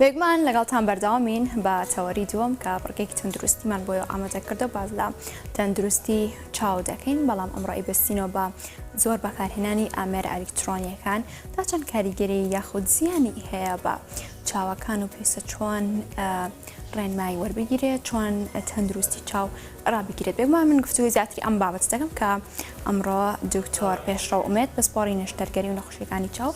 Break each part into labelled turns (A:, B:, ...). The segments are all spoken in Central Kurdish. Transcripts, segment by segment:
A: بێگومان لەگەڵتان بەرداوامین بە تەوەری دووەم کە بڕگێکی تەندروستیمان بۆی ئامادە کردو باز لە تەندروستی چاو دەکەین بەڵام ئەمڕۆی بستینەوە بە زۆر بەکارهێنانی ئامێر ئەلیکترۆنیەکان تا چەند کاریگەری یاخود زیانی هەیە بە چاوەکان و پێسە چۆن ڕێنمایی وەربگیرێت چۆن تەندروستی چاو ڕابگیرێت بێگومان من گفتوگۆی زیاتری ئەم بابەتە دەکەم کە ئەمڕۆ دکتۆر پێشڕەو ئومێد پسپۆڕی نەشتەرگەری و نەخۆشیەکانی چاو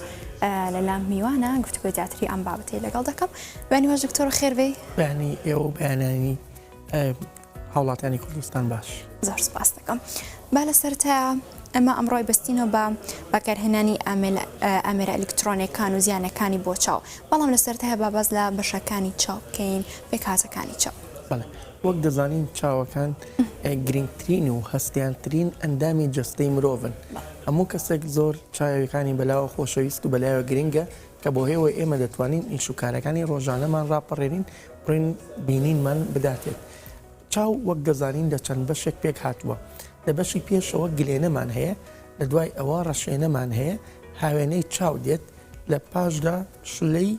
A: لەلام میوانە گفتوگۆی زیاتری ئەم بابەتی لەگەڵ دەکەم بەنی واش دکتۆر خێربێ بەنی ئێوە
B: بەیانانی هاوڵاتانی کوردستان باش زۆر سپاس دەکەم
A: با لە سەرتە ئەمە ئەمڕۆی بستینەوە بە بەکارهێنانی ئامێرە ئەلکترۆنەکان و زیانەکانی بۆ چاو بەڵام لە سەرتە هەبا بەس لە بەشەکانی چاو بکەین پێکاتەکانی چاو. وەک
B: دەزانین چاوەکان گرنگترین و هەستیارترین ئەندامی جەستەی مرۆڤن هەموو کەسێک زۆر چاوەکانی بەلاوە خۆشەویست و بەلایەوە گرنگە کە بۆ هێوە ئێمە دەتوانین ئیش و کارەکانی ڕۆژانەمان ڕاپەڕێنین ڕێن بینینمان بداتێت چاو وەک دەزانین لە چەند بەشێک پێک هاتووە لە بەشی پێشەوە گلێنەمان هەیە لە دوای ئەوە ڕەشێنەمان هەیە هاوێنەی چاو دێت لە پاشدا شلەی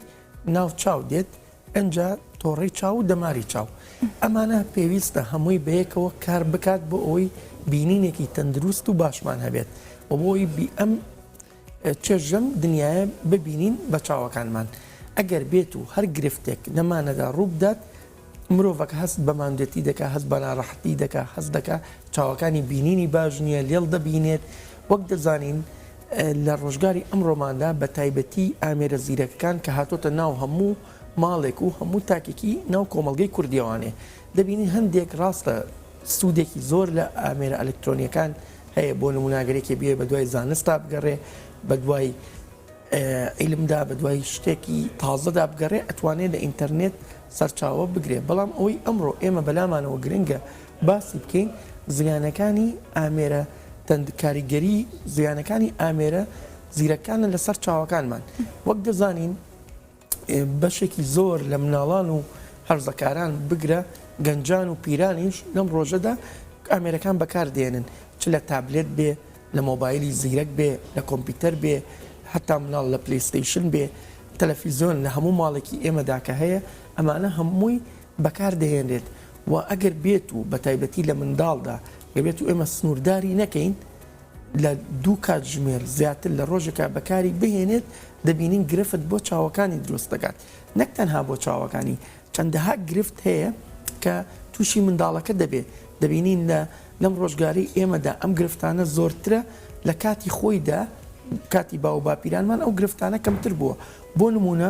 B: ناو چاو دێت ئنجا تۆڕەی چاو و دەماری چاو ئەمانە پێویستە هەمووی بەیەکەوە کار بکات بۆ ئەوەی بینینێکی تەندروست و باشمان هەبێت و بۆی بی ئەم چێژەم دنیاە ببینین بە چاوەکانمان ئەگەر بێت و هەر گرفتێک نەمانەدا ڕووبدات مرۆڤەکە هەست بە ماندێتی دەکە هەست بە ناڕەحەتی دەکە هەست دەکە چاوەکانی بینینی باش نییە لێڵ دەبینێت وەک دەزانین لە ڕۆژگاری ئەمڕۆماندا بە تایبەتی ئامێرە زیرەکەکان کە هاتۆتە ناو هەموو ماڵێک و هەموو تاکێکی ناو کۆمەڵگەی کوردیەوانێ دەبینین هەندێک ڕاستە سودێکی زۆر لە ئامێرە ئەلکترۆنیەکان هەیە بۆ نمونا گەرێکی بێ بە دوای زانستا بگەڕێ بە دوای عیلمدا بە دوای شتێکی تازەدا بگەڕێ ئەتوانێت لە ئینتەرنێت سەرچاوە بگرێ بەڵام ئەوەی ئەمڕۆ ئێمە بەلامانەوە گرنگە باسی بکەین زیانەکانی ئامێرە تەند کاریگەری زیانەکانی ئامێرە زیرەکانە لەسەر چاوەکانمان وەک دەزانین بەشێکی زۆر لە مناڵان و هەرزەکاران بگرە گەنجان و پیرانیش لەم ڕۆژەدا ئامێرەکان بەکاردێنن چ لە تابلێت بێ لە مۆبایلی زیرەک بێ لە کۆمپیوتەر بێ حتا مناڵ لە پلیستیشن بێ تەلەفیزیۆن لە هەموو ماڵێکی ئێمەدا کە هەیە ئەمانە هەمووی بەکاردەهێنرێت و ئەگەر بێت و بە تایبەتی لە منداڵدا دەبێت و ئێمە سنوورداری نەکەین لە دوو کاتژمێر زیاتر لە ڕۆژێکا بەکاری بهێنێت دەبینین گرفت بۆ چاوەکانی دروست دەکات نەک تەنها بۆ چاوەکانی چەندەها گرفت هەیە کە تووشی منداڵەکە دەبێت دەبینین لە لەم ڕۆژگاری ئێمەدا ئەم گرفتانە زۆرترە لە کاتی خۆیدا کاتی باو باپیرانمان ئەو گرفتانە کەمتر بووە بۆ نمونە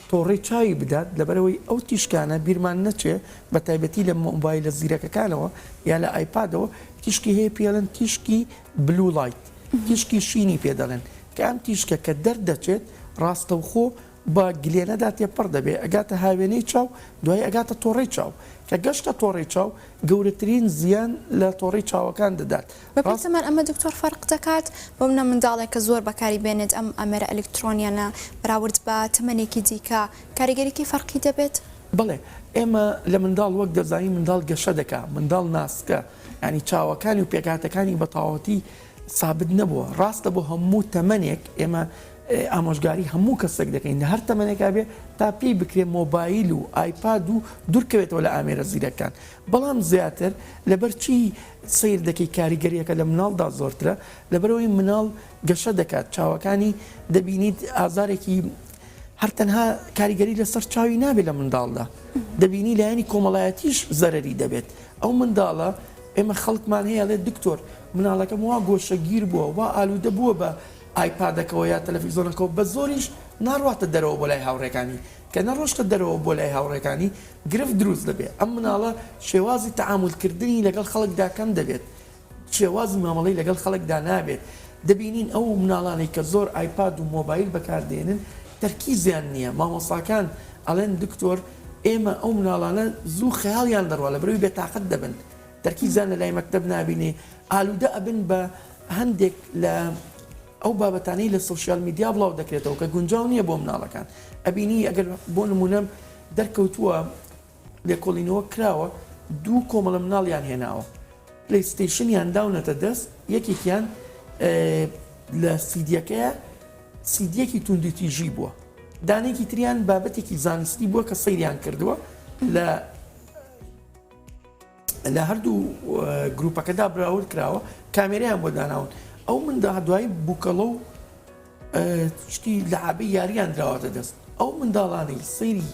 B: تۆڕەی چاوی بدات لەبەرئەوەی ئەو تیشکانە بیرمان نەچێت بەتایبەتی لە مۆبایلە زیرەکەکانەوە یا لە ئایپادەوە تیشکی هەیە پێی ئەڵێن تیشکی بلوو ڵایت تیشکی شینی پێ دەڵێن کە ئەم تیشکە کە دەردەچێت ڕاستەوخۆ بە گلێنەدا تێپەڕ دەبێت ئەگاتە هاوێنەی چاو دوایی ئەگاتە تۆڕەی چاو کە گەشتە تۆڕەی چاو گەورەترین زیان لە تۆڕەی چاوەکان دەدات بەپێی زمان ئەمە دکتۆر
A: فەرق دەکات بەو نە منداڵێک کە زۆر بەکاری بێنێت ئەم ئامێرە ئەلیکترۆنیانە بەراورد بە تەمەنێکی دیکە کاریگەریی فەرقی دەبێت؟ بەڵێ
B: ئێمە لە منداڵ وەک دەزانین منداڵ گەشە دەکا منداڵ ناسکە یانی چاوەکانی و پێکهاتەکانی بە تەواوەتی سابت نەبووە ڕاستە بۆ هەموو تەمەنێک ئێمە ئامۆژگاری هەموو کەسێک دەکەین لە هەر تەمەنێکا بێ تا پێی بکرێ مۆبایل و ئایپاد و دوورکەوێتەوە لە ئامێرە زیرەکان بەڵام زیاتر لەبەرچی سەیر دەکەی کاریگەریەکە لە مناڵدا زۆرترە لەبەرئەوەی مناڵ گەشە دەکات چاوەکانی دەبینیت ئازارێکی هەر تەنها کاریگەری لەسەر چاوی نابێت لە منداڵدا دەبینی لایەنی کۆمەڵایەتیش زەرری دەبێت ئەو منداڵە ئێمە خەڵکمان هەیە لێ دکتۆر مناڵەکەم وا گۆشەگیر بووە وا ئالوودە بووە بە ئایپادەکەەوە یا تەلەفیزۆنەکەەوە بە زۆریش ناڕاتە دەرەوە بۆ لای هاوڕێکانی کە نەڕۆشتە دەرەوە بۆ لای هاوڕێکانی، گرفت دروست دەبێت، ئەم مناڵە شێوازی تەعامول کردنی لەگەڵ خەڵکدا کەم دەبێت، شێوازی مامەڵەی لەگەڵ خەڵکدا نابێت، دەبینین ئەو مناڵانەی کە زۆر ئایپاد و مۆبایل بەکار دێنن تەرکیزیان نییە، مامۆستاکان ئەڵێن دکتۆر ئێمە ئەو مناڵانە زوو خەیاڵیان دەڕوا لەبەرئەوەی بێتاقەت دەبن تەرکیزیان لەلای مەکتەب نابینی ئالودە ئەبن بە هەندێک لە ئەو بابەتانەی لە سۆشیال میدیا بڵاو دەکرێتەوە کە گونجاو نییە بۆ مناڵەکان ئەبینی ئەگەر بۆ نمونە دەرکەوتووە لێکۆڵینەوە کراوە دوو کۆمەڵە مناڵیان هێناوە پلیستیشنیان داونەتە دەست یەکێکیان لە سیدیەکەیە سیدیەکی توندی تیژی بووە دانێکی تریان بابەتێکی زانستی بووە کە سەیریان کردووە لە لە هەردوو گروپەکەدا براورد کراوە کامێریان بۆ داناون ئەو مندا دوای بووکەڵە و شتی لەعابی یاریان دراوەتە دەست ئەو منداڵانەی سەیری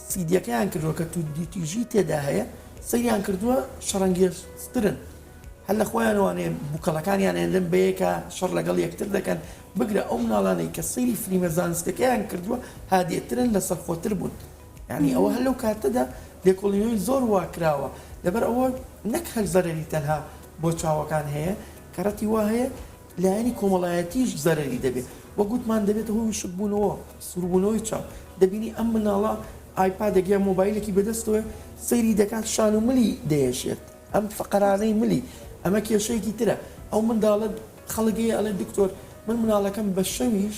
B: سیدیەکەیان کردووە کە تودیتیژی تێدا هەیە سەیان کردووە شەڕەنگێسترن هەر لە خۆیان وانێ بووکەڵەکانیان هێندن بەیەکە شەڕ لەگەڵ یەکتر دەکەن بگرە ئەو مناڵانەی کە سەیری فلیمە زانستەکەیان کردووە هادێترن لە سەرخۆتر بوون یانی ئەوە هەر لەو کاتەدا لێکۆڵینەوەی زۆر وا کراوە لەبەر ئەوە نەک هەر زەرەری تەنها بۆ چاوەکان هەیە کەڕەتی وا هەیە لایەنی کۆمەڵایەتیش زەرەری دەبێت وە گوتمان دەبێت هۆ وشک بوونەوە سوربوونەوەی چاو دەبینی ئەم مناڵە ئایپادێک یا مۆبایلێکی بەدەستەوە سەیری دەکات شان و ملی دەیەشێت ئەم فقرانەی ملی ئەمە کێشەیەکی ترە ئەو منداڵە خەڵک هەیە ئەڵێ دکتۆر من مناڵەکەم بە شەویش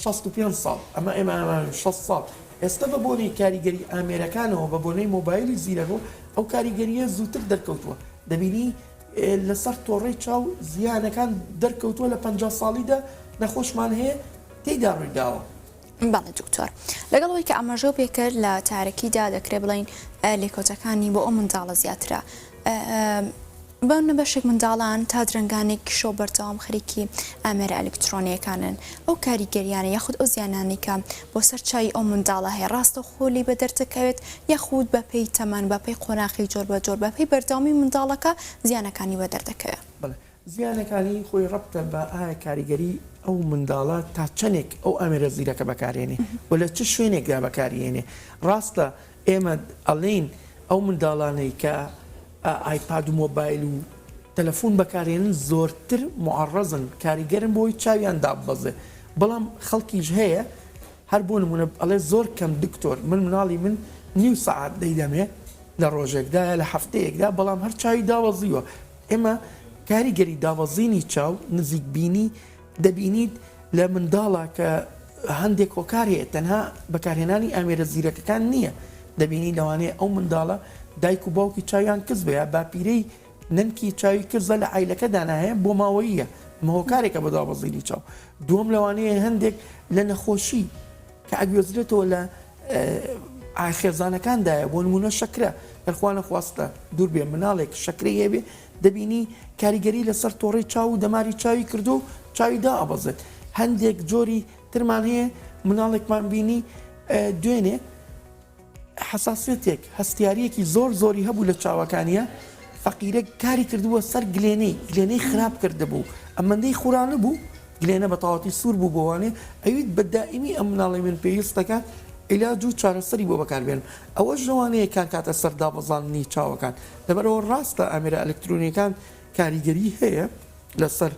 B: شەست و پێنج ساڵ، ئەمە ئێمە ئەمانین شەست ساڵ، ئێستە بە بۆنەی کاریگەری ئامێرەکانەوە بە بۆنەی مۆبایلی زیرەک و ئەو کاریگەرییە زووتر دەرکەوتووە دەبینی لەسەر تۆڕەی چاو زیانەکان دەرکەوتووە لە پەنجا ساڵیدا نەخۆشمان هەیە تێیدا ڕوویداوە. بەڵێ دکتۆر
A: لەگەڵ ئەوەی کە ئاماژەو پێکرد لە چارەکیدا دەکرێ بڵین لێکەوتەکانی بۆ ئەو منداڵە زیاترە بەونە بەشێک منداڵان تا درەنگانێکی شەو بەردەوام خەریکی ئامێرە ئەلیکترۆنیەکانن ئەو کاریگەریانە یاخود ئەو زیانانی کە بۆ سەر چاوی ئەو منداڵە هەیە ڕاستە خۆ لی بە دەردەکەوێت یاخود بە پێی تەمەن بە پێی قۆناخی جۆر بە جۆر بە پێی بەردەوامی منداڵەکە زیانەکانی بە دەردەکەوێت. زیانەکانی
B: خۆی ڕەبتە بە ئایا کاریگەری ئەو منداڵە تا چەنێک ئەو ئامێرە زیرەکە بەکارێنێ و لە چ شوێنێکدا بەکاریێنێ ڕاستە ئێمە ئەڵێین ئەو منداڵانەی کە ئایپاد و مۆبایل و تەلەفون بەکارێنن زۆرتر معەڕەزن کاریگەرن بۆی چاویان داببەزێ بەڵام خەڵکیش هەیە هەر بۆ نمونە ئەڵێ زۆر کەم دکتۆر من مناڵی من نیو سەعات دەیدەمێ لە ڕۆژێکدایە لە هەفتەیەکدا بەڵام هەر چاوی داوەزیوە ئێمە کاریگەری دابەزینی چاو نزیک بینی دەبینیت لە منداڵا کە هەندێک هۆکار هەیە تەنها بەکارهێنانی ئامێرە زیرەکەکان نییە دەبینی لەوانەیە ئەو منداڵە دایک و باوکی چاویان کز بە یا باپیرەی نەنکی چاوی کرزە لە عیلەکە داناهەیە بۆ ماوەییە ئەمە هۆکارێکە بە دابەزینی چاو دووەم لەوانەیە هەندێک لە نەخۆشی کە ئەگوێزرێتەوە لە خێزانەکاندایە بۆ نمونە شەکرە دەرخوانە خواستە دووربێ مناڵێک شەکری هەبێ دەبینی کاریگەری لەسەر تۆڕی چاو و دەماری چاوی کردو چاوی دا ئەبەزێت هەندێک جۆری ترمان هەیە مناڵێکمان بینی دوێنێ حساسێتێک هەستیارەکی زۆر زۆری هەبوو لە چاوەکانیە فەقیرە کاری کردووە سەر گلێنەی گلێنەی خراپ کردبوو ئەمەندەی خورانە بوو گلێنە بە تەواوەتی سوور بوو بۆ وانەی ئەویت بە دائیمی ئەم مناڵەی من پێویستەکە عیلاج و چارەسەری بۆ بەکار بێنم ئەوەش لەوانەیە کار کاتە سەر دابەزاندنی چاوەکان لەبەرئەوە ڕاستە ئامێرە ئەلکترۆنیەکان کاریگەری هەیە لەسەر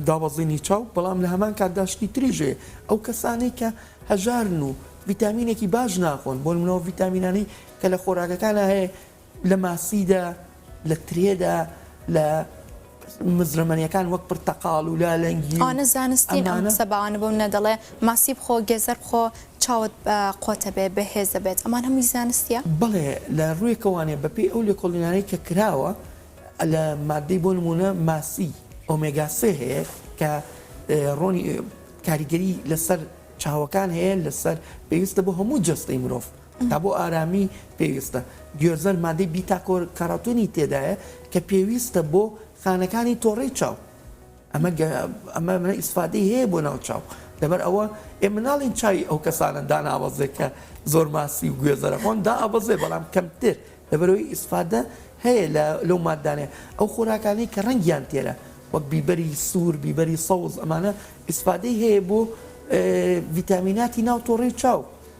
B: دابەزینی چاو بەڵام لە هەمان کاتدا شتی تریش هەیە ئەو کەسانەی کە هەژارن و ڤیتامینێکی باش ناخۆن بۆ منەوە ڤیتامینانی کە لە خۆراگەکانە هەیە لە ماسیدا، لە ترێدا، لە مزرەمەنیەکان وەک پرتەقاڵ و لالەنگی و ئەوانە زانستین ئەم
A: قسە باوانە بۆ منە دەڵێ ماسی بخۆ گێزەر بخۆ چاوت قۆتەبێ بەهێز دەبێت ئەمان هەمووی زانستیە؟ بەڵێ لە
B: ڕووێکە وانە بەپێی ئەو لێکۆڵینانەی کە کراوە لە مادەی بۆ نمونە ماسی ئۆمێگا سێ هەیە کە ڕۆنی کاریگەری لەسەر چاوەکان هەیە لەسەر پێویستە بۆ هەموو جەستەی مرۆڤ. تا بۆ ئارامی پێویستە. گوێزەر مادەی بیتا کاراوتینی تێدایە کە پێویستە بۆ خانەکانی تۆڕەی چاو ئەمە ئیسفادەی هەیە بۆ ناو چاو لەبەر ئەوە ئێ مناڵین چاوی ئەو کەسانە داناوەزێ کە زۆر ماسی و گوێزەرە خۆن دا ئەبەزێ بەڵام کەمتر لەبەرەوەی ئیسفادە هەیە لەو مادانێ ئەو خۆراکانی کە ڕەنگیان تێرە وەک بیبەری سوور بیبەری سەوز ئەمانە ئیسفادەی هەیە بۆ ڤیتامیناتی ناو تۆڕی چاو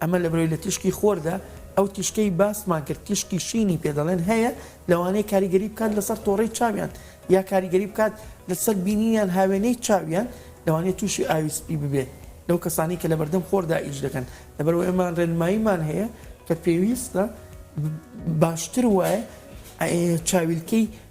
B: ئەمە لەبەرئەوەی لە تیشکی خۆردا، ئەو تیشکەی باسمان کرد تیشکی شینی پێ دەڵێن، هەیە، لەوانەیە کاریگەری بکات لەسەر تۆڕەی چاویان، یا کاریگەری بکات لەسەر بینینیان هاوێنەی چاویان، لەوانەیە تووشی ئاوی سپی ببێت لەو کەسانەی کە لەبەردەم خۆردا ئیش دەکەن، لەبەرئەوە ئێمە ڕێنماییمان هەیە کە پێویستە باشتر وایە چاویلکەی.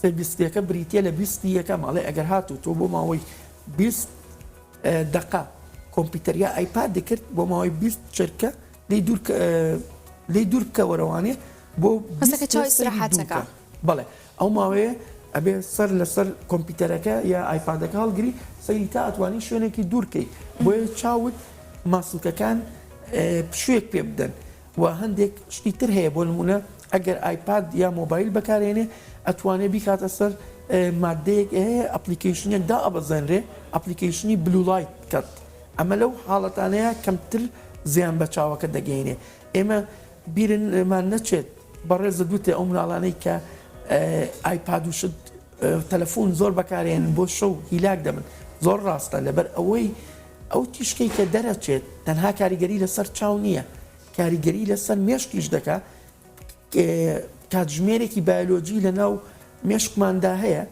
B: سێ بیستیەکە بریتە لە بیستی یەکەم ئەڵێ ئەگەر هاتو تۆ بۆ ماوەی بیست دقە کۆمپیوتەر یا ئایپاد دەکرد بۆ ماوەی بیست چرکە لی دوور لی دوور کەوەرەوانێ بۆ بەسەکە چاوی سرحاتەکە بڵێ ئەو ماوەیە ئەبێ سەر لەسەر کۆمپیوتەرەکە یا ئایپادەکە هەڵگری سەیری تا ئەتوانی شوێنێکی دوورکەیت بۆیە چاوت ماسوولکەکان پشوێک پێ بدەن وە هەندێک شتی تر هەیە بۆ نمونە ئەگەر ئایپاد یا مۆبایل بەکارێنێ ئەتوانێ بیکاتە سەر مادەیەک هەیە ئەپلیکەیشنێک دائەبەزێنرێ ئەپلیکەیشنی بلوولایت کەت ئەمە لەو حاڵەتانەیە کەمتر زیان بە چاوەکە دەگەینێ ئێمە بیرمان نەچێت بەڕێزت وتێ ئەو مناڵانەی کە ئایپاد و شت تەلەفون زۆر بەکارێنن بۆ شەو هیلاک دەبن زۆر ڕاستە لەبەر ئەوەی ئەو تیشکەی کە دەرەچێت تەنها کاریگەری لەسەر چاو نییە کاریگەری لەسەر مێشکیش دەکا کاتژمێرێکی بایلۆجی لە ناو مێشکماندا هەیە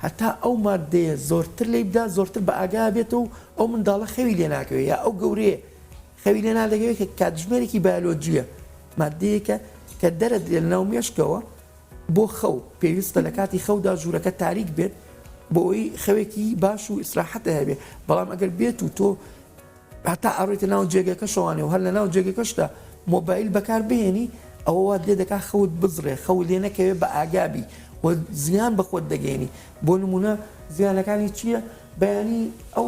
B: هەتا ئەو مادەیە زۆرتر لی بدا زۆرتر بە ئاگا بێت و ئەو منداڵە خەوی لێ ناکەوێت یا ئەو گەورەیە خەوی لێ نادەکەوێت کە کاتژمێرێکی بایلۆجیە مادەیەکە کە دەرەدرێت لەناو مێشکەوە بۆ خەو، پێویستە لە کاتی خەودا ژوورەکە تاریک بێت بۆئەوەی خەوێکی باش و ئیسراحەتت هەبێت، بەڵام ئەگەر بێت و تۆ هەتا ئەڕۆیتە ناو جێگەکە شەوانێ و هەر لە ناو جێگەکەشدا مۆبایل بەکار بهێنی ئەوە وات لێ دەکات خەوت بزڕێ، خەوت لێ نەکەوێت بە ئاگا بی و زیان بە خۆت دەگەیەنی، بۆ نموونە زیانەکانی چییە؟ بەیانی ئەو.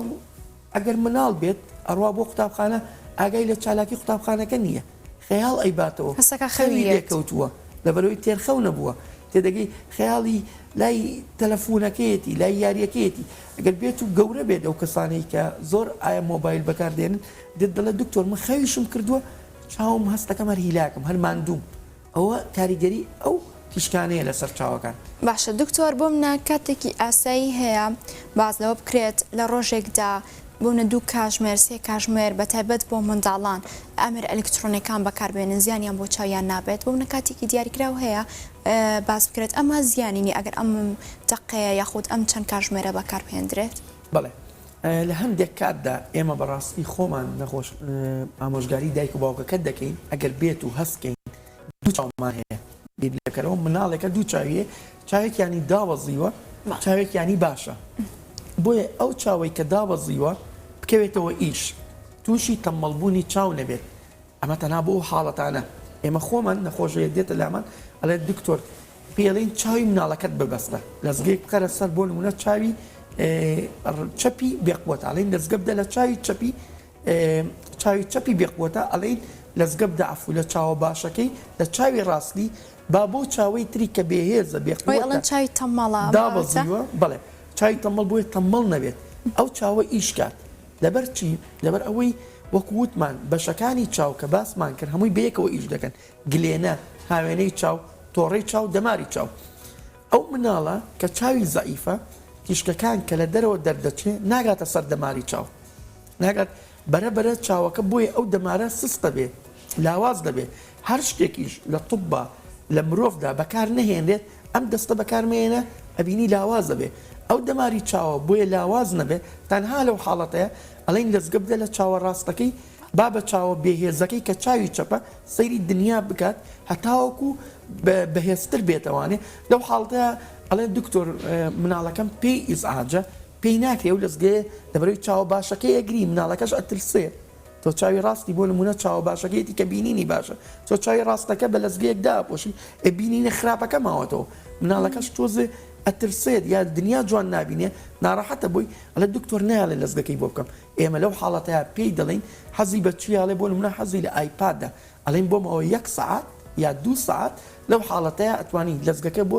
B: ئەگەر مناڵ بێت ئەڕوا بۆ قوتابخانە ئاگای لە چالاکی قوتابخانەکە نییە خەیاڵ ئەیباتەوە خەوی لێکەوتووە لەبەرەوەی تێرخەو نەبووە تێدەگەی خەیاڵی لای تەلەفونەکەیەتی لای یاریەکەیەتی ئەگەر بێت و گەورە بێت ئەو کەسانەی کە زۆر ئایا مۆبایل بەکاردێنن دێت دەڵێ دکتۆر من خەویشم کردووە چاوم هەستەکەم هەر هیلاکم هەر ماندووم ئەوە کاریگەری ئەو تیشکانەیە لەسەر چاوەکان. باشە دکتۆر بۆ
A: منە کاتێکی ئاسایی هەیە باس لەوە بکرێت لە ڕۆژێکدا بۆمنە دوو کاژمێر سێ کاژمێر بەتایبەت بۆ منداڵان ئامێرە ئەلیکترۆنیەکان بەکاربێنن زیانیان بۆ چاویان نابێت بۆمنە کاتێکی دیاریکراو هەیە باس بکرێت ئەمە زیانی نیە ئەگەر ئەم تەقەیە یاخود ئەم چەند کاژمێرە بەکاربهێندرێت؟ بەڵێ
B: لە هەندێک کاتدا ئێمە بەڕاستی خۆمان نەخۆش ئامۆژگاری دایک و باوکەکەت دەکەین ئەگەر بێت و هەست کەین دوو چاومان هەیە بیر لێبکەرەوە مناڵێکە دوو چاویە چاوێکیانی دابەزیوە چاوێکیانی باشە بۆیە ئەو چاوەی کە دابەزیوە بکەوێتەوە ئیش تووشی تەمەڵبوونی چاو نەبێت ئەمە تەنها بۆ ئەو حاڵەتانە ئێمە خۆمان نەخۆش هەیە دێتە لامان ئەڵێت دکتۆر پێڵین چاوی مناڵەکەت ببەستە لەزگەیەک بکەرە سەر بۆ نمونە چاوی چەپی بێقوەتە ئەڵین لەزگە بدە لە چاوی چەپی چاوی چەپی بێقوەتە ئەڵین لەزگە بدە عفو لە چاوە باشەکەی لە چاوی ڕاستی با بۆ چاوەی تری کە بێهێزە بێقوەتە چاوی تەمەڵە
A: دابەزیوە بڵێ
B: چاوی تەمەڵ بۆیە تەمەڵ نەبێت ئەو چاوە ئیشکات لەبەر چی؟ لەبەر ئەوەی وەکو وتمان بەشەکانی چاو کە باسمان کرد هەمووی بەیەکەوە ئیش دەکەن، گلێنە، هاوێنەی چاو، تۆڕەی چاو، دەماری چاو. ئەو مناڵە کە چاوی زەعیفە تیشکەکان کە لە دەرەوە دەردەچێ ناگاتە سەر دەماری چاو ناگات بەرە بەرە چاوەکە بۆیە ئەو دەمارە سستە بێ. لاواز دەبێت، هەر شتێکیش لە طوبا لە مرۆڤدا بەکار نەهێنرێت ئەم دەستە بەکار مەیەنە ئەبینی لاواز دەبێت ئەو دەماری چاوە بۆیە لاواز نەبێت تەنها لەو حاڵەتەیە ئەڵێن لەزگە بدە لە چاوە ڕاستەکەی با بە چاوە بێهێزەکەی کە چاوی چەپە سەیری دنیا بکات هەتاوەکو بەهێزتر بێتەوانێ لەو حاڵتەیە ئەڵێن دکتۆر مناڵەکەم پێی ئیزعاجە پێی ناکرێ و لەزگەیە لەبەرەوەی چاوە باشەکەی ئەگری مناڵەکەش ئەترسێ تۆ چاوی ڕاستی بۆ نموونە چاوە باشەکەیەتی کە بینینی باشە تۆ چاوی ڕاستەکە بە لەزگەیەک داپۆشی ئێ بینینە خراپەکە ماوەتەوە مناڵەکەش تۆزێ ئەترسێت یا دنیا جوان نابینێ ناڕەحەتە بۆی ئەڵێ دکتۆر نایەڵێ لەزگەکەی بۆ بکەم ئێمە لەو حاڵەتەیا پێی دەڵێین حەزی بە چی ئەڵێ بۆ نموونە حەزی لە ئایپادە ئەڵێین بۆ ماوەی یەک سەعات یا دوو سەعات لەو حاڵەتەیا ئەتوانی لەزگەکە بۆ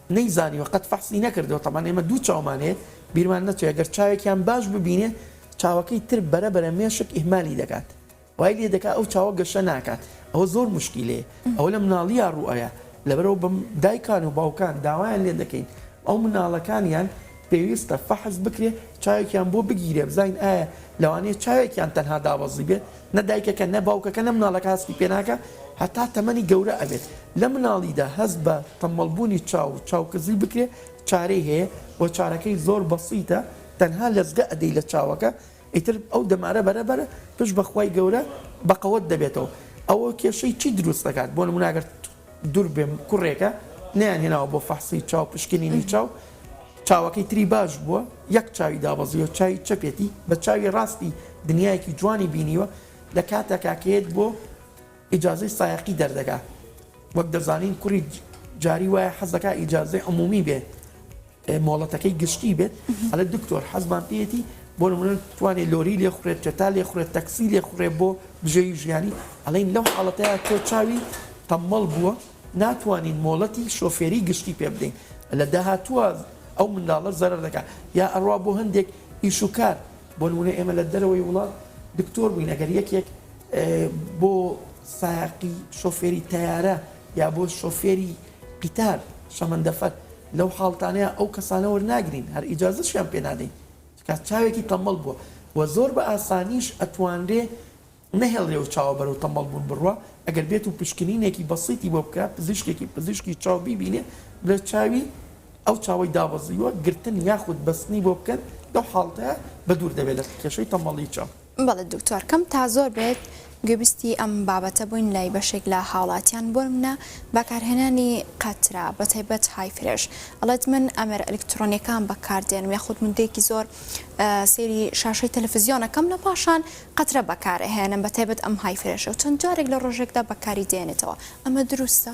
B: نەیزانیوە قەت فەحسی نەکردوە تەبعەن ئێمە دوو چاومان هەیە بیرمان نەچێ گەر چاوێکیان باش ببینێ چاوەکەی تر بەرە بەرە مێشک ئیهمالی دەکات وای لێ دەکات ئەو چاوە گەشە ناکات ئەوە زۆر موشکیلەیە ئەوە لە مناڵیا ڕوئایە لەبەرئەوە بم دایکان و باوکان داوایان لێ دەکەین ئەو مناڵەکانیان پێویستە فەحس بکرێ چاوێکیان بۆ بگیرێ بزانین ئایا لەوانەیە چاوێکیان تەنها دابەزی بێت نە دایکەکە نە باوکەکە نە مناڵەکە هەستی پێناکە هەتا تەمەنی گەورە ئەبێت لە مناڵیدا هەست بە تەمەڵبوونی چاو و چاوکزی بکرێ چارەی هەیە و چارەکەی زۆر بەسیتە تەنها لەزگە ئەدەی لە چاوەکە ئیتر ئەو دەمارە بەرە بەرە پشت بەخوای گەورە بەقەوەت دەبێتەوە ئەوە کێشەی چی دروست دەکات بۆ نموناگەر دور بێم کوڕێکە نەیان هێناوە بۆ فەحسی چاو پشکنینی چاو چاوەکەی تری باش بووە یەک چاوی دابەزیوە چاوی چەپێتی بە چاوی ڕاستی دنیایەکی جوانی بینیوە لە کاتە کاکەیەت بۆ ئیجازەی سایەقی دەردەکا وەک دەزانین کوڕی جاری وایە حەزەکە ئیجازەی عمومی بێ مۆڵەتەکەی گشتی بێت ئەڵێ دکتۆر حەزمان پێیەتی بۆ نمونە توانێ لۆری لێ خوڕێت چەتا لێ خوڕێت تەکسی لێ خوڕێ بۆ بژێوی ژیانی ئەڵین لەو حاڵەتەیە تۆ چاوی تەمەڵ بووە ناتوانین مۆڵەتی شۆفێری گشتی پێ بدەین لە داهاتووە ئەو منداڵە زەرەر دەکات یا ئەڕوا بۆ هەندێک ئیش و کار بۆ نمونە ئێمە لە دەرەوەی وڵات دکتۆر بووین ئەگەر یەکێک بۆ سایقی شۆفێری تەیارە یا بۆ شۆفێری قیتار شەمەندەفەر لەو حاڵتانەیا ئەو کەسانە وەرناگرین هەر ئیجازەشیان پێ نادەین چکا چاوێکی تەمبەڵ بووە و زۆر بە ئاسانیش ئەتوانرێ نەهێڵرێ ئەو چاوە بەرەو تەمبەڵ بوون بڕوا ئەگەر بێت و پشکنینێکی بەسیتی بۆ بکا پزیشکێکی پزیشکی چاو بیبینێ بڵێ چاوی ئەو چاوەی دابەزیوە گرتن یاخود بەستنی بۆ بکەن لەو حاڵتەیا بەدوور دەبێ لە کێشەی تەمبەڵی چاو. بەڵێ دکتۆر کەم
A: تا زۆر بێت گویبستی ئەم بابەتە بووین لای بەشێک لە هاوڵاتیان بۆنمونە بەکارهێنانی قەترە بەتایبەت های فرێش ئەڵێت من ئەمێرە ئەلیکترۆنیەکان بەکاردێنم یاخود مدەیەکی زۆر سەیری شاشەی تەلەفزیۆنەکەم لە پاشان قەترە بەکارهێنم بەتایبەت ئەم های فرێشە و چەند جارێک لە ڕۆژێکدا بەکاری دێنێتەوە ئەمە دروستە؟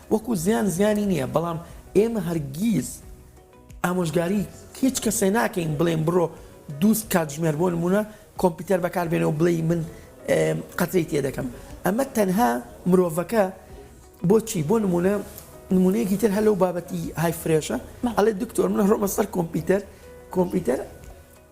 B: وەکو زیان زیانی نیە بەڵام ئێمە هەرگیز ئامۆژگاری هیچ کەسێ ناکەین بڵێن بڕۆ دووست کاتژمێر بۆ نمونە کۆمپیوتەر بەکاربێنەوە بڵێ من قەتەی تێ دەکەم ئەمە تەنها مرۆڤەکە بۆچی بۆ نمونە نمونەیەکی تر هەلو بابەتی های فرێشە ئەڵێ دکتۆر من هەڕۆمە سەر کۆمپیوتەر کۆمپیوتەر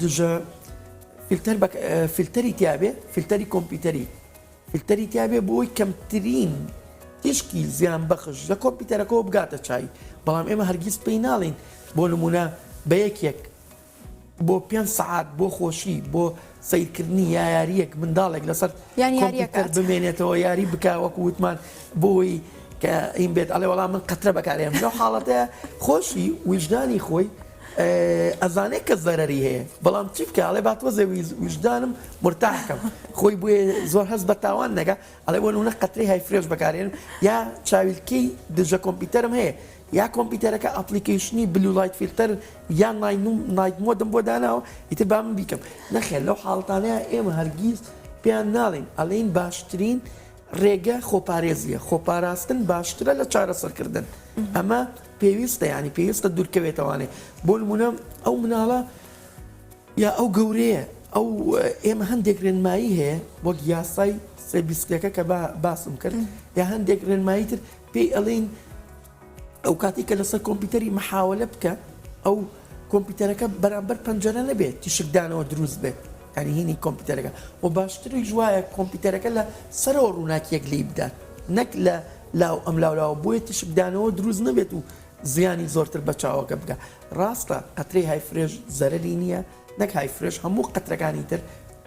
B: دژە فلتەر بە فلتەری تیاابێ فلتەری کۆمپیوتەری فلتەری تیاابێ بۆی کەمترین تیشکی زیان بەخش لە کۆمپیوتەرەکەەوە بگاتە چای بەڵام ئێمە هەرگیز پێی ناڵین بۆ نمونە بە یەکێک بۆ پێ سعات بۆ خۆشی بۆ سەیرکردنی یایاریەک منداڵێک لەسەر کۆمپیوتەر بمێنێتەوە یاری بکە وەکو وتمان بۆی کە ئیم بێت ئەڵێ وەڵام من قەترە بەکارێم لەو حاڵەتە خۆشی ویژدانی خۆی ئەزانێت کە زەرری هەیە بەڵام چی بکە ئەڵێ باتوە زەوی ویژدانم مرتاحکەم خۆی بۆیە زۆر هەست بە تاوان نەگە ئەڵێ بۆ نونە قەتری های فرێش بەکارێن یا چاویلکەی دژە کۆمپیوتەرم هەیە یا کۆمپیتەرەکە ئەپڵیکەیشنی بلو لایت فیلتەر یان نایت مۆدم بۆ داناوە ئیتر با من بیکەم نەخێر لەو حاڵەتانەیا ئێمە هەرگیز پێیان ناڵێین ئەڵێین باشترین ڕێگە خۆپارێزیە خۆپاراستن باشترە لە چارەسەرکردن ئەمە پێویستە ینی پێویستە دوورکەوێتەوانێ بۆ نمونە ئەو مناڵە یا ئەو گەورەیە ئەو ئێمە هەندێک رێنمایی هەیە وەک یاسای سێ بیست پێکە کە با باسم کرد یا هەندێک رێنمایی تر پێی ئەڵین ئەو کاتی کە لەسەر کۆمپیوتەری محاولە بکە ئەو کۆمپیوتەرەکە بەرامبەر پەنجەرە نەبێت تیشکدانەوە دروست بێت ئەنیهینی کۆمپیوتەرەکە و باشتری جوایە کۆمپیوتەرەکە لە سەرەوە ڕووناکیەک لی بدات نەک لە لاو ئەم لاولاوە بۆیە تیشکدانەوە دروست نەبێت و زیانی زۆرتر بە چاوەکە بکە ڕاستە قەترەی های فرێش زەرەری نییە نەک های فرێش هەموو قەترەکانی تر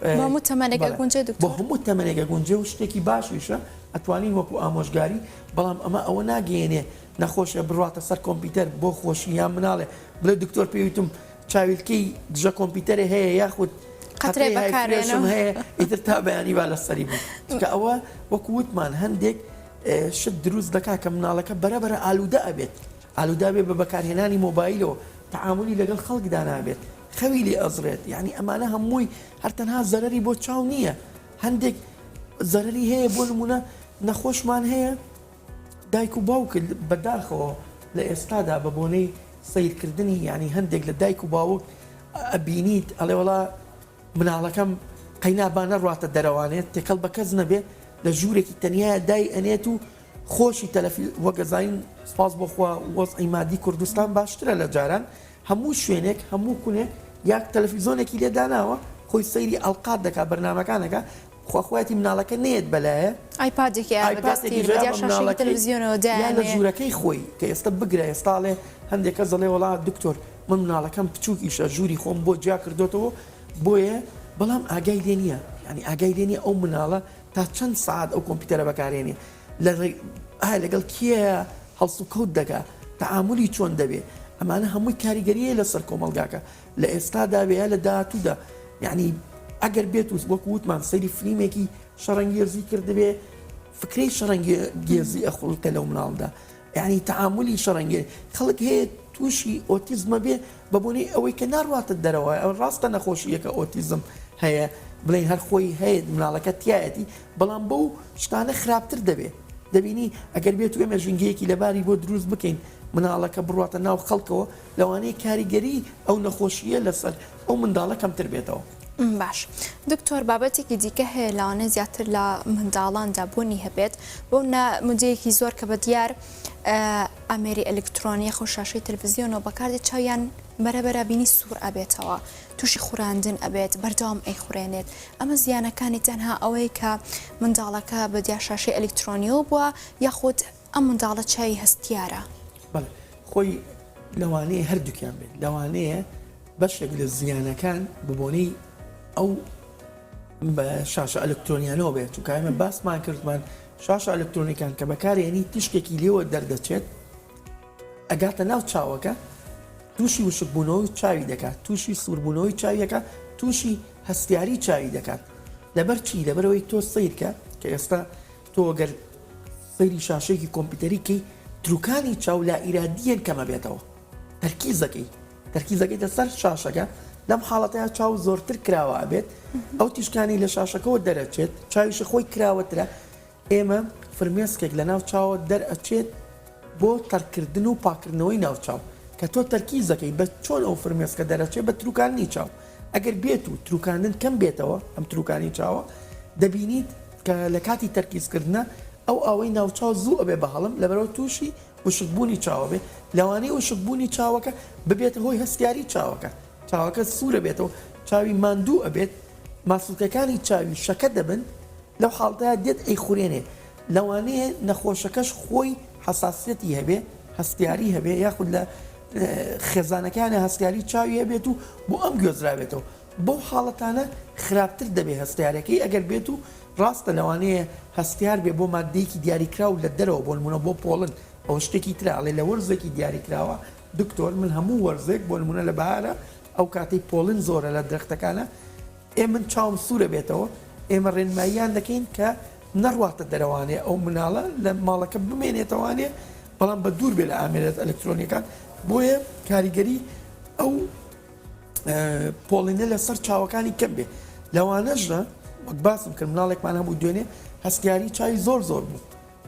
B: هەموو تەمەنێک
A: گونجێ بۆ هەموو تەمەنێکە
B: گونجێ و شتێکی باشیشە ئەتوانین وەکو ئامۆژگاری بەڵام ئەمە ئەوە ناگەێنێ نەخۆشە بڕاتە سەر کۆمپیوتەر بۆ خۆشی یان مناڵێ بڵێ دکتۆر پێویتم چاویلکەی دژە کۆمپیوتەرێ هەیە یاخود قەترێ
A: بەکارێنم هەیە ئیتر تا
B: بەیانی با لە سەری بوو کە ئەوە وەکو وتمان هەندێک شت دروست دەکا کە مناڵەکە بەرەبەرە ئالوودە ئەبێت. ئالوودە بێت بە بەکارهێنانی مۆبایلەوە تەعامولی لەگەڵ خەڵکدا نابێت خەوی لێ ئەزڕێت یانی ئەمانە هەمووی هەر تەنها زەرەری بۆ چاو نییە هەندێک زەرەری هەیە بۆ نمونە نەخۆشمان هەیە دایک و باوکرد بەداخەوە لە ئێستادا بە بۆنەی سیرکردنی ینی هەندێک لە دایک و باوک ئەبینیت ئەڵێ وڵا مناڵەکەم قەینابانە ڕاتە دەرەوانێت تێکەڵ بە کەس نەبێت لە ژوورێکی تەنیا دای ئەنێت و خۆشی تەلەفی وەگەزاین سپاس بۆ خوا وەزعی مادی کوردستان باشترە لە جاران هەموو شوێنێک هەموو کونێک یاک تەلەفیزۆنێکی لێ داناوە خۆی سەیری ئەڵقات دەکا بەرنامەکانەکە خوا خوایەتی مناڵەکە نێت بەلایە ئایپادێکی ئایپادێکی بەدەستی جیا بەدیا بە شاشێکی مناڵەکەی
A: تەلەڤزیۆنەوە یا لە دایانێ ژوورەکەی
B: خۆی کە ئێستا بگرە ئێستاڵێ هەندێک کەس دەڵێ وەڵا دکتۆر من مناڵەکەم بچووکیشە ژووری خۆم بۆ جیا کردۆتەوە بۆیە بەڵام ئاگای لێ نییە یانی ئاگای لێ نییە ئەو مناڵە تا چەند سەعات ئەو کۆمپیوتەرە بەکارهێنێ لە ڕێ ئایا لەگەڵ کێیە هەڵسوکەوت دەکا تەعاملی چۆن دەبێ ئەمانە هەمووی کاریگەریە لەسەر کۆمەلگاکە لە ئێستادا وێ یا لە داهاتوودا یعنی ئەگەر بێت و وەک وتمان سەیری فلیمێکی شەڕەنگێزی کردبێ فکرەی شەڕەنگێزی ئەخڵکە لەو مناڵدا یانی تەعامولی شەڕەنگێ خەڵک هەیە تووشی ئۆتیزمە بێ بە بۆنەی ئەوەی کە ناڕواتە دەرەوە ئەوە ڕاستە نەخۆشییەکە ئۆتیزم هەیە بڵێن هەر خۆی هەیە مناڵەکە تایەتی بەڵام بەو شتانە خراپتر دەبێت دەبینی ئەگەر بێت وێمە ژینگەیەکی لەباری بۆ دروست بکەین مناڵەکە بڕاتە ناو خەڵکەوە لەوانەیە کاریگەریی ئەو نەخۆشییە لەسەر ئەو منداڵە کەمتر بێتەوە. باش
A: دکتۆر بابەتێکی دیکە هەیە لەوانەیە زیاتر لە منداڵاندا بوونی هەبێت بۆ نا مدەیەکی زۆر کە بە دیار ئامێری ئەلکترۆنیە خۆ شاشەی تلویزیۆنەوە بەکاردی چاویان بەرەبەرە بینی سوور ئەبێتەوە تووشی خوراندن ئەبێت بەردەوام ئەی خورێنێت ئەمە زیانەکانی تەنها ئەوەیە کە منداڵەکە بە دیار شاشەی ئەلکترۆنیەوە بووە یاخود ئەم منداڵە چاوی هەستیارە. بەڵێ خۆی
B: لەوانەیە هەردووکیان بێت لەوانەیە بەشێک لە زیانەکان ببۆنەی ئەو بە شاشە ئەلکترۆنیانەوە بێت و کارمە باسمان کردمان شاشە ئەلکترۆنیکان کە بەکارێنی تیشکێکی لێوە دەردەچێت ئەگاتە ناو چاوەکە تووشی وشکبوونەوەی چاوی دەکات تووشی سووربوونەوەی چاویەکە تووشی هەستیاری چاوی دەکات لەبەر چی لەبەرەوەی تۆ سیرکە کە ئێستا تۆ گەر سەیری شاشەیەکی کۆمپیوتەری کەی تروکانی چاو لائیرادیەن کەمەبێتەوە تەرکیز دەکەی تەرکیز دەکەیتە سەر شاشەکە لەم حاڵەتەیە چاو زۆرتر کراوە ئەبێت ئەو تیشکانی لە شاشەکەەوە دەرەچێت چاویشی خۆی کراوەترە ئێمە فرمێسکێک لە ناو چاوە دەرئەچێت بۆ تەرکردن و پاکردنەوەی ناوچاو کە تۆ تەرکیز دەکەی بە چۆن ئەو فرمێسکە دەرەچێت بە تروکانی چاو ئەگەر بێت و تروکاندن کەم بێتەوە ئەم تروکانی چاوە دەبینیت کە لە کاتی تەرکیز کردنە ئەو ئاوەی ناوچاو زوو ئەبێ بە هەڵم لەبەرئەوە تووشی وشک بوونی چاوە بێ لەوانەیە وشک بوونی چاوەکە ببێتە هۆی هەستیاری چاوەکە چاوەکە سوور ئەبێتەوە چاوی ماندوو ئەبێت ماسولکەکانی چاوی شەکە دەبن لەو حاڵتەیا دێت ئەیخورێنێ لەوانەیە نەخۆشەکەش خۆی حەساسیەتی هەبێ هەستیاری هەبێ یاخود لە خێزانەکانە هەستیاری چاوی هەبێت و بۆ ئەم گوێزرابێتەوە بەو حاڵەتانە خراپتر دەبێت هەستیارەکەی ئەگەر بێت و ڕاستە لەوانەیە هەستیار بێت بۆ ماددەیەکی دیاریکراو لە دەرەوە بۆ نمونە بۆ پۆڵن ئەوە شتێکی ترە ئەڵێ لە وەرزێکی دیاریکراوە دکتۆر من هەموو وەرزێک بۆ نمونە لە بەهارە ئەو کاتەی پۆڵن زۆرە لە درەختەکانە ئێ من چاوم سوورە بێتەوە ئێمە ڕێنماییان دەکەین کە نەڕواتە دەرەوانێ ئەو مناڵە لە ماڵەکە بمێنێتەوانێ بەڵام بە دوور بێ لە ئامێرە ئەلکترۆنیەکان بۆیە کاریگەری ئەو پۆڵینە لەسەر چاوەکانی کەم بێ لەوانەشدا وەک باسم کرد مناڵێکمان هەبوو دوێنێ هەستیاری چای زۆر زۆر بوو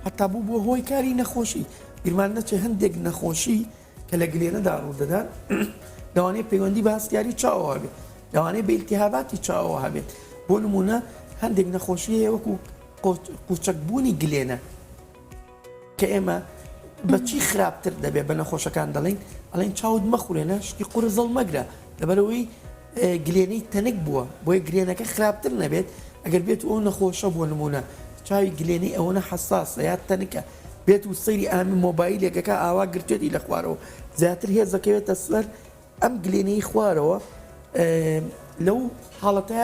B: هەتا بوو بۆ هۆی کاری نەخۆشی بیرمان نەچێ هەندێک نەخۆشی کە لە گلێنەدا ڕوودەدان لەوانەیە پەیوەندی بە هەستیاری چاوەوە بێت لەوانەیە بە ئیلتیهاباتی چاوەوە هەبێت بۆ نمونە هەندێک نەخۆشی هەیە وەکو قوچەکبوونی گلێنە کە ئێمە بە چی خراپتر دەبێت بە نەخۆشەکان دەڵین ئەڵین چاوت مەخورێنە شتی قورە زەڵ مەگرە لەبەرەوەی گلێنەی تەنک بووە بۆیە گرێنەکە خراپتر نەبێت ئەگەر بێت ئەو نەخۆشە بۆ نمونە چاوی گلێنی ئەوەنە حساسە یا تەنکە بێت و سەیری ئامی مۆبایلێکەکە ئاوا گرتێتی لە خوارەوە زیاتر هێزەکەوێتە سەر ئەم گلێنەی خوارەوە لەو حاڵەتە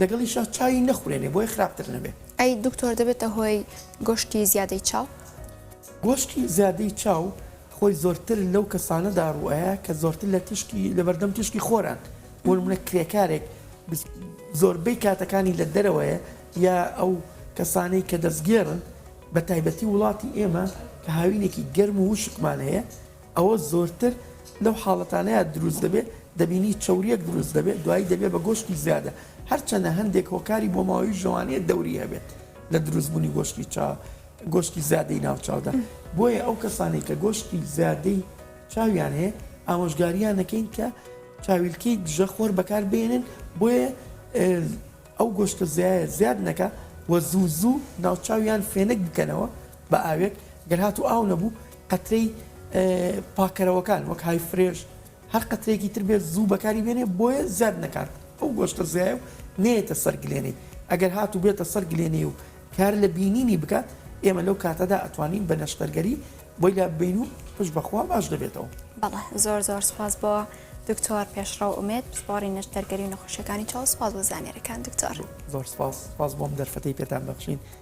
B: لەگەڵیشا چاوی نەخورێنێ بۆیە خراپتر نەبێ. ئەی دکتۆر دەبێتە
A: هۆی گۆشتی زیادەی چاو؟ گۆشتی
B: زیادەی چاو خۆی زۆرتر لەو کەسانە داڕوئایە کە زۆرتر لە تیشکی لەبەردەم تیشکی خۆران بۆ نمونە کرێکارێک زۆربەی کاتەکانی لە دەرەوەیە یا ئەو کەسانەی کە دەستگێڕن بە تایبەتی وڵاتی ئێمە کە هاوینێکی گەرم و وشکمان هەیە ئەوە زۆرتر لەو حاڵەتانەیا دروست دەبێت دەبینی چەوریەک دروست دەبێت دوایی دەبێت بە گۆشتی زیادە هەرچەندە هەندێک هۆکاری بۆماوەی ژەوانەیە دەوری هەبێت لە دروست بوونی گۆشتی چا گۆشتی زیادەی ناوچاودا بۆیە ئەو کەسانی کە گۆشتی زیادەی چاویان هەیە ئامۆژگاریان نەکەین کە چاویلکەی دژە خۆر بەکار بێنن بۆیە ئەو گۆشتە زیایە زیاد نەکە وە زوو زوو ناوچاویان فێنک بکەنەوە بە ئاوێک گەرهات و ئاو نەبوو قەترەی پاکەرەوەکان وەک های فرێش هەر قەترەیەکی تر بێت زوو بەکاری بێنێ بۆیە زیاد نەکات ئەو گۆشتە زیایە و نێتە سەر گلێنەی ئەگەر هات و بێتە سەر گلێنەی و کار لە بینینی بکات ئێمە لەو کاتەدا ئەتوانین بە نەشتەرگەری بۆی لا ببین و پش بەخوا باش دەبێتەوە بەڵێ زۆر زۆر
A: سپاس بۆ دکتۆر پێشڕەو ئومێت پسپۆڕی نەشتەرگەری و نەخۆشیەکانی چاو سپاس بۆ زانیارەکان دکتۆر زۆر سپاس سپاس
B: بۆم دەرفەتی پێتان بەخشین